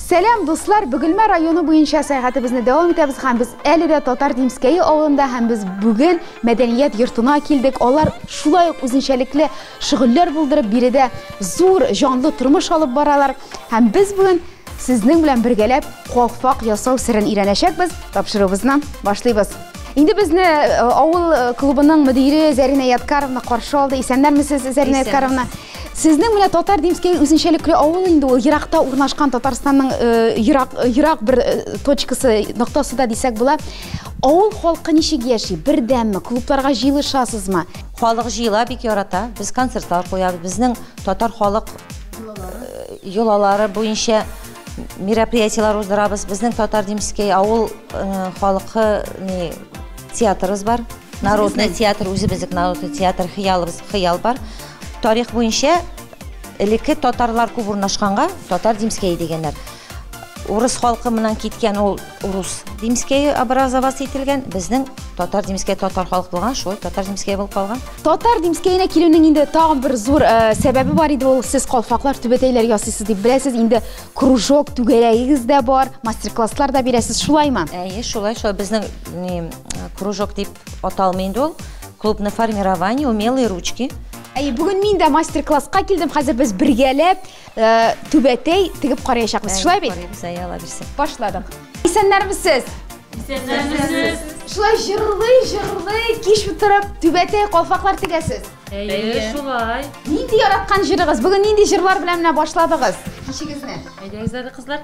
Сәлам, дуслар! Бүгелмә районы буенча сәяхәтебезне дәвам итәбез һәм без әле дә Татар Димскәе авылында һәм без бүген мәдәният йортына килдек. Алар шулай ук үзенчәлекле шөгыльләр булдырып, биредә зур җанлы тормыш алып баралар. Һәм без бүген сезнең белән бергәләп калфак ясау серен өйрәнәчәкбез. Тапшыруыбызны башлыйбыз. Инде безне э, авыл э, клубының мөдире Зәринә Яткаровна каршы алды. Исәннәрмесез, Зәринә Яткаровна? Сезнең менә татар димскәй үзенчәлекле авыл инде ул еракта урнашкан Татарстанның э, ерак ерак бер точкасы, ноктасы да дисәк була. Авыл халкы ничек яши? Бердәмме? Клубларга җыелышасызмы? Халык җыела, бик ярата. Без концертлар куябыз. Безнең татар халык йолалары буенча мероприятиеләр уздырабыз. Безнең Татар Димский авыл э, халкы не, театрыбыз бар. Народный театр, үзебезнең народный театр хыялыбыз, хыял бар. Тарих буенча элекке татарлар күп урнашканга Татар Димский дигәннәр. Урыс халкы моннан киткән ул урус Димскәе образоваться ителгән, безнең татар Димскәе татар халык булган, шулай татар Димскәе булып калган. Татар Димскәенә килүнең инде тагын бер зур э, сәбәбе бар иде, ул сез калфаклар, түбәтәйләр ясыйсыз дип беләсез, инде кружок түгәрәгегез дә бар, мастер-класслар да бирәсез, шулаймы? Әйе, шулай, шулай безнең не, кружок дип аталмый инде ул. Клуб на формировании умелые ручки. Әйе, бүген мин дә мастер-класска килдем. Хәзер без бергәләп Э, түбәтәй тегеп караячакбыз шулай бит карыйбыз әйе алла бирсә башладык исәннәрмесез исәннәрмесез шулай җырлый җырлый кич утырып түбәтәй калфаклар тегәсез әйе шулай нинди яраткан җырыгыз бүген нинди җырлар белән менә башладыгыз кичегезне әйдәгез әле кызлар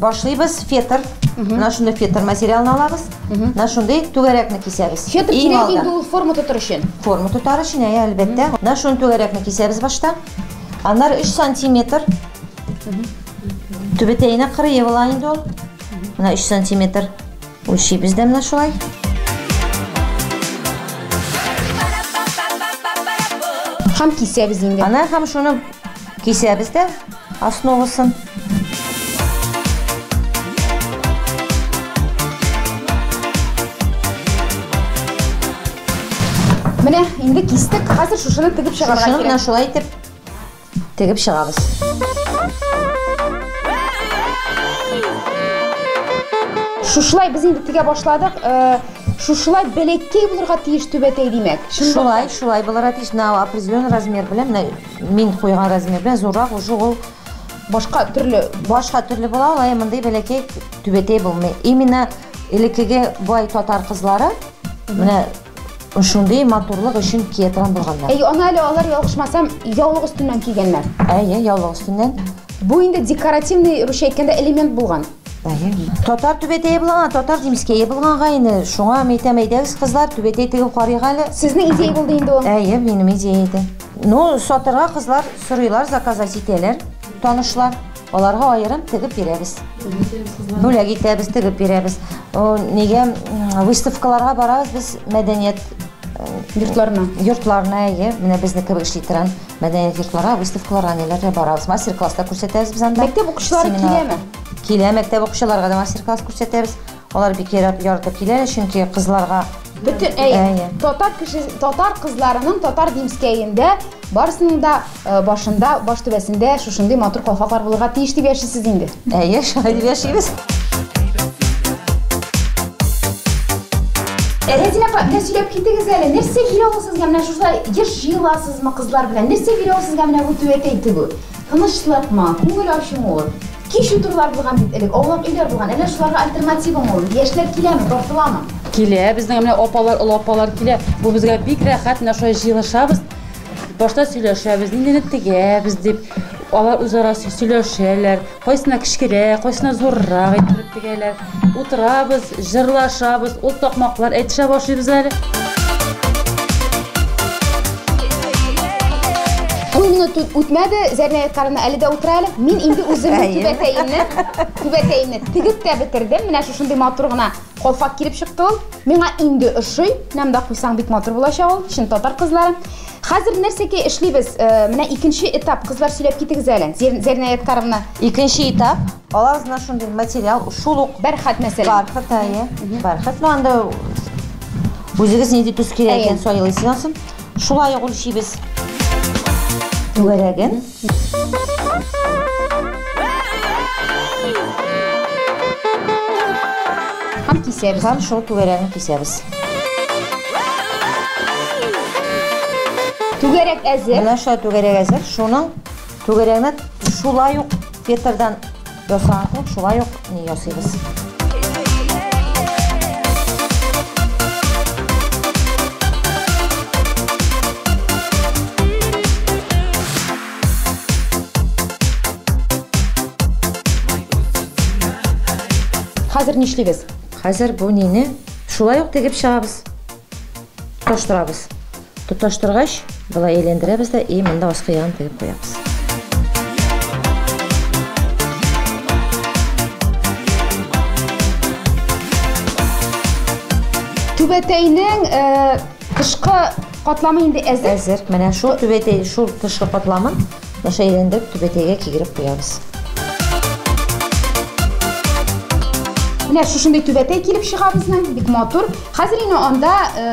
Башлыйбыз фетр. Менә шундый фетр материалын алабыз. Менә шундый түгәрәкне кисәбез. Фетр кирәк инде ул форма тотар өчен. Форма тотар өчен, әйе, әлбәттә. Менә шундый түгәрәкне кисәбез башта. Аннары 3 сантиметр. Түбәтәенә кырые була инде ул. Менә 3 сантиметр. Үлчибез дә менә шулай. Хам кисәбез инде. Ана хам шуны кисәбез дә основасын. Менә инде кистек. Хәзер шушыны тегеп чыгарга кирәк. Шушыны шулай итеп тегеп чыгабыз. Шушылай без инде тегә башладык. Э, шушылай бәләкәй булырга тиеш түбәтәй димәк. Шулай, шулай булырга тиеш. На определенный размер белән менә Мин куйган размердан зуррак уже ул башка төрле, башка төрле була ала, ә мондый бәләкәй түбәтәй булмый. Именно элеккеге бай татар кызлары менә шундый матурлык өчен кия торган булганнар. Әй, аны әле алар ялгышмасам, яулык өстеннән кигәннәр. Әйе, яулык өстеннән. Бу инде декоративный, русча әйткәндә, элемент булган. Әйе. Татар түбәтәе булган, татар димскәе булганга инде шуңа мин әйтәм, әйдәгез, кызлар, түбәтәй тегеп карыйк әле. Сезнең идея булды инде ул. Әйе, минем идея иде. Ну, сатырга кызлар сорыйлар, заказать итәләр, танышлар. Аларга аерым тегеп бирәбез. Бүләк итәбез, тегеп бирәбез. Нигә выставкаларга барабыз без мәдәният йортларына? Йортларына, әйе. Менә безне кебек эшли торган мәдәният йортларына, выставкаларга ниләргә барабыз. Мастер-класслар күрсәтәбез без анда. Мәктәп укучылары киләме? Килә, мәктәп укучыларга да мастер-класс күрсәтәбез. Алар бик ярап ярты киләләр, чөнки кызларга. Бөтен, әйе, әйе. Татар кеше, татар кызларының татар димскәендә барысының да башында, баш түбәсендә шушындый матур калфаклар булырга тиеш дип яшисез инде. Әйе, шулай дип яшибез. Рәзинә апа, менә сөйләп китегез әле, нәрсә бирә ул сезгә? Менә шушылай еш җыеласызмы кызлар белән? Нәрсә бирә ул сезгә менә бу түәтәй тегү? Тынычлыкмы, күңел ачумы ул? Кич утырулар булган бит элек, аулак өйләр булган. Әллә шуларга альтернативамы ул? Яшьләр киләме, тартыламы? Килә, безнең менә апалар, олы апалар килә. Бу безгә бик рәхәт, менә шулай җыелышабыз. Башта сөйләшәбез, ниндине тегәбез дип. Алар үзара сөйләшәләр. Кайсына кечкерәк, кайсына зуррак иттереп тегәләр. Утырабыз, җырлашабыз, ул такмаклар әйтешә башлыйбыз әле. Ул минут үтмәде, Зәрнәй карына әле дә утыра әле. Мин инде үземнең түбәтәемне, түбәтәемне тегеп тә бетердем. Менә шушындый матур гына колфак килеп чыкты ул. Миңа инде ошый. Нәмдә куйсаң бик матур булачак ул. Чын татар кызлары. Хәзер нәрсәгә эшлибез? Э, менә икенче этап. Кызлар сөйләп китегез әле. Зәрнәй Карына. Икенче этап. Аларызына шундый материал, шул ук бәрхәт мәсәлән. Бәрхәт, әйе. Бәрхәт, ну анда үзегез нинди төс кирәк икән сайлыйсыз ансын. Шулай ук үлчибез. Түгәрәген. Һәм кисәбез. Һәм шул түгәрәген кисәбез. Түгәрәк әзер. Менә шулай түгәрәк әзер. Шуның Түгәрәкне шулай ук фетрдан ясаган кебек, шулай ук ни ясыйбыз. Хәзер нишлибез? Хәзер бу нине шулай ук тегеп чыгабыз. Тоштырабыз. Тоташтыргач, болай әйләндерәбез дә и монда аскы ягын тегеп куябыз. Түбәтәйнең э, тышкы катламы инде әзер. Әзер. Менә шул түбәтәй, шул тышкы катламын наша әйләндереп түбәтәйгә кигереп куябыз. Менә шушындый түбәтәй килеп чыга безнең, бик матур. Хәзер инде анда э,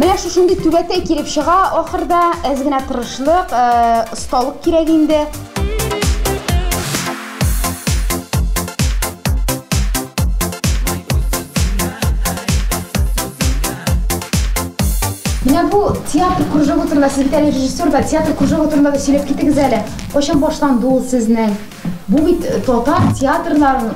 Менә шушындый түбәтәй килеп чыга ахырда, әз генә тырышлык, осталык кирәк инде. Менә бу театр кружогы турында, сез бит әле режиссер да, театр кружогы турында да сөйләп китегез әле. Кайчан башланды ул сезнең? Бу бит татар театрларын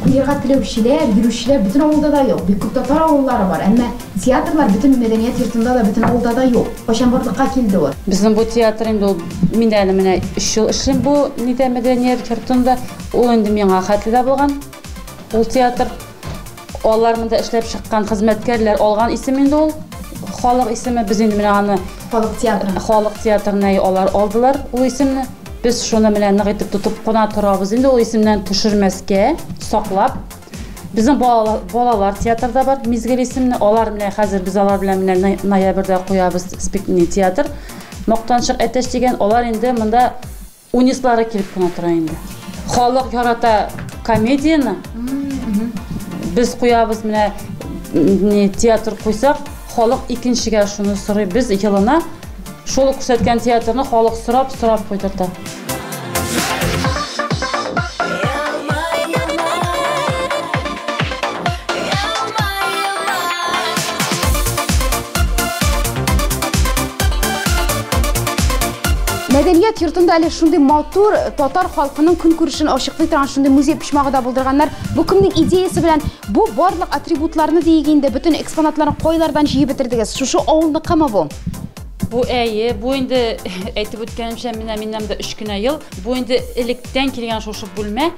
куярга теләүчеләр, йөрүчеләр бөтен авылда да юк. Бик күп татар авыллары бар, әмма театрлар бөтен мәдәният йортында да, бөтен авылда да юк. Кайчан барлыкка килде ул? Безнең бу театр инде ул мин әле менә 3 ел эшлим бу нидә мәдәният йортында. Ул инде миңа хәтле дә булган. Ул театр алар монда эшләп чыккан хезмәткәрләр алган исем инде ул. Халык исеме без инде менә аны халык театры. Халык театрына алар алдылар ул исемне. Без шуны менә нык итеп тотып кына торабыз. Инде ул исемнән төшермәскә, саклап. Безнең балалар, балалар театрда бар, Мизгел исемле. Алар менә хәзер без алар белән менә ноябрьдә куябыз спектакль театр. Мактанчык әтәч дигән алар инде монда Унислары килеп кенә тора инде. Халык ярата комедияне. Без куябыз менә не театр куйсак, халык икенчегә шуны сорый. Без елына шул күрсәткән театрны халык сорап, сорап куйдырта. Мәдәният йортында әле шундый матур татар халкының көнкүрешен ачыклый торган шундый музей почмагы да булдырганнар. Бу кемнең идеясе белән бу барлык атрибутларны диек инде бөтен экспонатларны кайлардан җыеп бетердегез? Шушы авылныкымы бу? Бу әйе, бу инде әйтеп үткәнемчә, менә миннән дә 3 кенә ел. Бу инде электән килгән шушы бүлмә.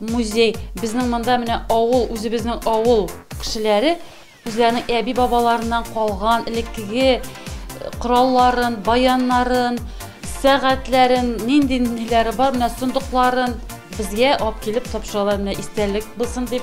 Музей, безнең монда менә авыл, үзебезнең авыл кешеләре үзләренең әби-бабаларыннан калган элеккеге э, коралларын, баяннарын, сәгатьләрен, нинди ниләре бар, менә сундукларын безгә алып килеп тапшыралар, менә истәлек булсын дип.